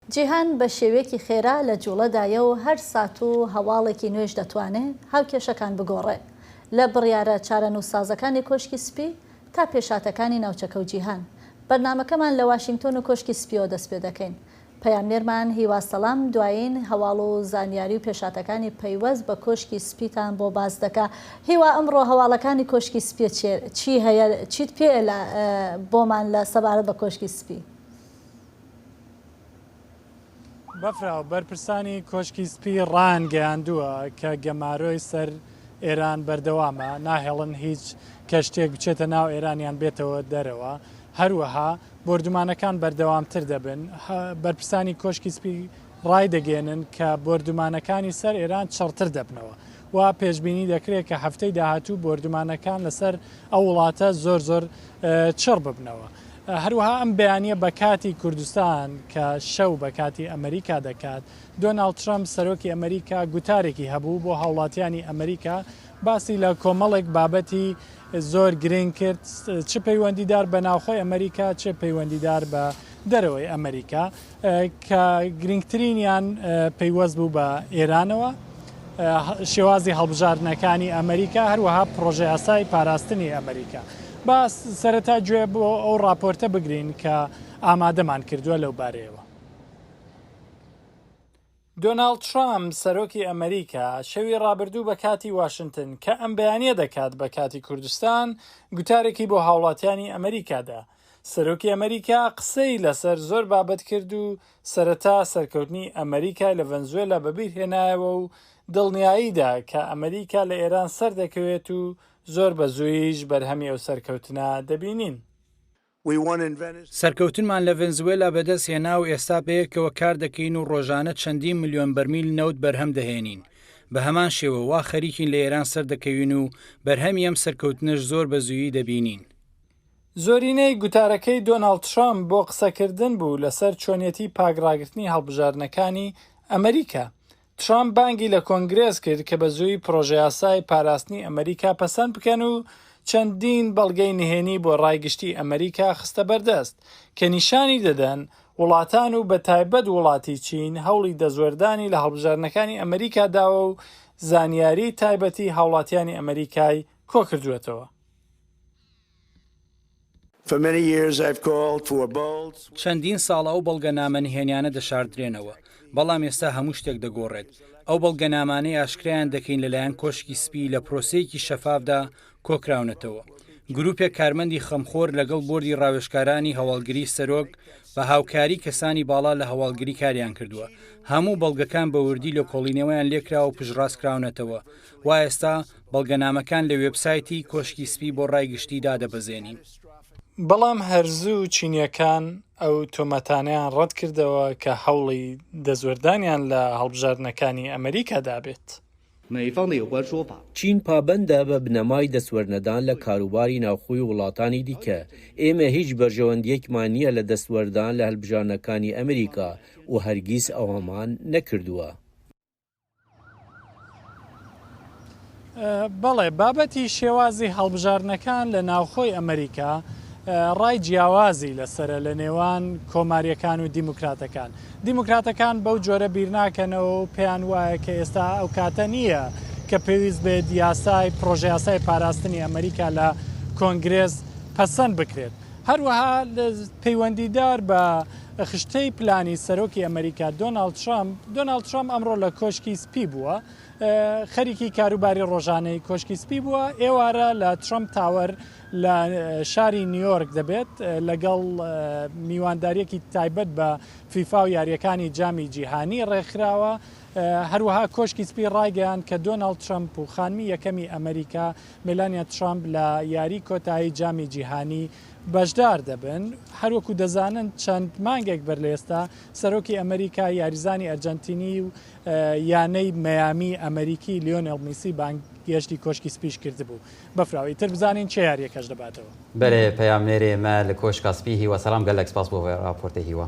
جیهان بە شێوەیەکی خێرا لە جووڵەدایە و هەر سات و هەواڵێکی نوێش دەتوانێ هاوکێشەکان بگۆڕێ، لە بڕیارە چارەنووسسازەکانی کۆشکی سپی تا پێشهاتەکانی ناوچەکە و جیهان. بەرنامەکەمان لە واشینگتۆن و کۆشکی سپییەوە دەست پێ دەکەین. پەیامنێرمان هیوا سەلام دوایین هەواڵ و زانیاری و پێشهاتەکانی پەیوەست بە کۆشکی سپیتان بۆ باس دەکا. هیوا ئەمڕۆ هەواڵەکانی کۆشکی سپی چیە؟ چی هەیە؟ چیت پێیە لە بۆمان لە سەبارەت بە کۆشکی سپی؟ بەفراو، بەرپرسانی کۆشکی سپی ڕایانگەیاندووە کە گەمارۆی سەر ئێران بەردەوامە، ناهێڵن هیچ کەشتییەک بچێتە ناو ئێران یان بێتەوە دەرەوە، هەروەها بۆردومانەکان بەردەوامتر دەبن. بەرپرسانی کۆشکی سپی ڕایدەگەیەنن کە بۆردومانەکانی سەر ئێران چڕتر دەبنەوە و پێشبینی دەکرێت کە هەفتەی داهاتوو بۆردومانەکان لەسەر ئەو وڵاتە زۆر زۆر چڕ ببنەوە. هەروەها ئەم بەیانییە بە کاتی کوردستان کە شەو بە کاتی ئەمەریکا دەکات، دۆناڵد ترەمپ سەرۆکی ئەمەریکا گوتارێکی هەبوو بۆ هاوڵاتیانی ئەمەریکا باسی لە کۆمەڵێک بابەتی زۆر گرنگ کرد چ پەیوەندیدار بە ناوخۆی ئەمەریکا چ پەیوەندیدار بە دەرەوەی ئەمەریکا کە گرنگترینیان پەیوەست بوو بە ئێرانەوە، شێوازی هەڵبژاردنەکانی ئەمریکا، هەروەها پڕۆژەیاسای پاراستنی ئەمریکا. با سەرەتا گوێ بۆ ئەو ڕاپۆرتە بگرین کە ئامادەمان کردووە لەو بارەیەوە. دۆناڵد ترامپ، سەرۆکی ئەمریکا، شەوی ڕابردوو بە کاتی واشنتن، کە ئەم بەیانییە دەکات بە کاتی کوردستان، گوتارێکی بۆ هاوڵاتیانی ئەمریکا دا. سەرۆکی ئەمریکا قسەی لەسەر زۆر بابەت کرد و سەرەتا سەرکەوتنی ئەمریکای لە ڤەنزوێلا بەبیر هێنایەوە و دڵنیایی دا کە ئەمریکا لە ئێران سەردەکەوێت و زۆر بەزوویش بەرهەمی ئەو سەرکەوتنە دەبینین. سەرکەوتنمان لە ڤەنزوێلا بەدەست هێنا و ئێستا بەیەکەوە کار دەکەین و ڕۆژانە چەندین ملیۆن بەرمیل نەوت بەرهەم دەهێنین. بە هەمان شێوە وا خەریکین لە ئێران سەردەکەوین و بەرهەمی ئەم سەرکەوتنەش زۆر بە زوویی دەبینین. زۆرینەی گوتارەکەی دۆناڵد ترەمپ بۆ قسەکردن بوو لەسەر چۆنیەتی پاک ڕاگرتنی هەڵبژاردنەکانی ئەمریکا، ترامپ بانگی لە کۆنگرێس کرد کە بە زووی پڕۆژەیاسای پاراستنی ئەمەریکا پەسەند بکەن و چەندین بەڵگەی نهێنی بۆ ڕای گشتی ئەمەریکا خستە بەردەست کە نیشانی دەدەن وڵاتان و بە تایبەت وڵاتی چین هەوڵی دەستوەردانی لە هەڵبژاردنەکانی ئەمەریکا داوە و زانیاری تایبەتی هاوڵاتیانی ئەمەریکای کۆکردووەتەوە. چەندین ساڵە ئەو بەڵگەنامە نهێنیانە دەشاردرێنەوە، بەڵام ئێستا هەموو شتێک دەگۆڕێت. ئەو بەڵگەنامانەی ئاشکرایان دەکەین لەلایەن کۆشکی سپی لە پرۆسەیەکی شەفافدا کۆکراونەتەوە. گروپێک کارمەندی خەمخۆر لەگەڵ بۆردی ڕاوێژکارانی هەواڵگری سەرۆک بە هاوکاری کەسانی باڵا لە هەواڵگری کاریان کردووە. هەموو بەڵگەکان بە وردی لێکۆڵینەوەیان لێکراوە و پشتڕاستکراونەتەوە. وا ئێستا بەڵگەنامەکان لە وێبسایتی کۆشکی سپی بۆ ڕای گشتی دادەبەزێنین. بەڵام هەرزوو چینییەکان ئەو تۆمەتانەیان ڕەتکردەوە کە هەوڵی دەستوەردانیان لە هەڵبژاردنەکانی ئەمریکا دابێت. چین پابەندە بە بنەمای دەستوەرنەدان لە کاروباری ناوخۆی وڵاتانی دیکە، ئێمە هیچ بەرژەوەندییەکمان نییە لە دەستوەردان لە هەلبژاردنەکانی ئەمریکا و هەرگیز ئەوەمان نەکردووە. بەڵێ بابەتی شێوازی هەڵبژاردنەکان لە ناوخۆی ئەمریکا ڕای جیاوازی لەسرە لە نێوان کۆماریەکان و دیموکراتەکان دیموکراتەکان بەو جۆرە بیرناکەنەوە و پێیان وایە کە ئێستا ئەو کاتە نییە کە پێویست بێت یاسای پرۆژیاسای پاراستنی ئەمریکا لە کۆنگرێز پەسەند بکرێت هەروەها پەیوەندیدار بە خشتەی پلانی سەرۆکی ئەمەریکا دۆناڵد ترەمپ، دۆناڵد ترەمپ ئەمڕۆ لە کۆشکی سپی بووە، خەریکی کاروباری ڕۆژانەی کۆشکی سپی بووە، ئێوارە لە ترەمپ تاوەر لە شاری نیویۆرک دەبێت لەگەڵ میوانداریەکی تایبەت بە فیفا و یارییەکانی جامی جیهانی ڕێکخراوە، هەروەها کۆشکی سپی ڕایگەیاند کە دۆناڵد ترەمپ و خانمی یەکەمی ئەمەریکا مێلانیا ترەمپ لە یاری کۆتایی جامی جیهانی بەشدار دەبن، هەروەکو دەزانن چەند مانگێک بەر لەئێستا سەرۆکی ئەمریکا یاریزانی ئەرجەنتینی و یانەی مەیامی ئەمریکی لیۆنێڵ میسی بانگ گێشتی کۆشکی سپیش کردبوو بەفراو ئیتر بزانین چێ یاریەکەش دەباتەوە. بەرێ پەیامنێرێ مە لە کۆشکا سپی هیوا سەلام گەلەک سپاس بۆ ڤە ڕاپۆرتە هیوا.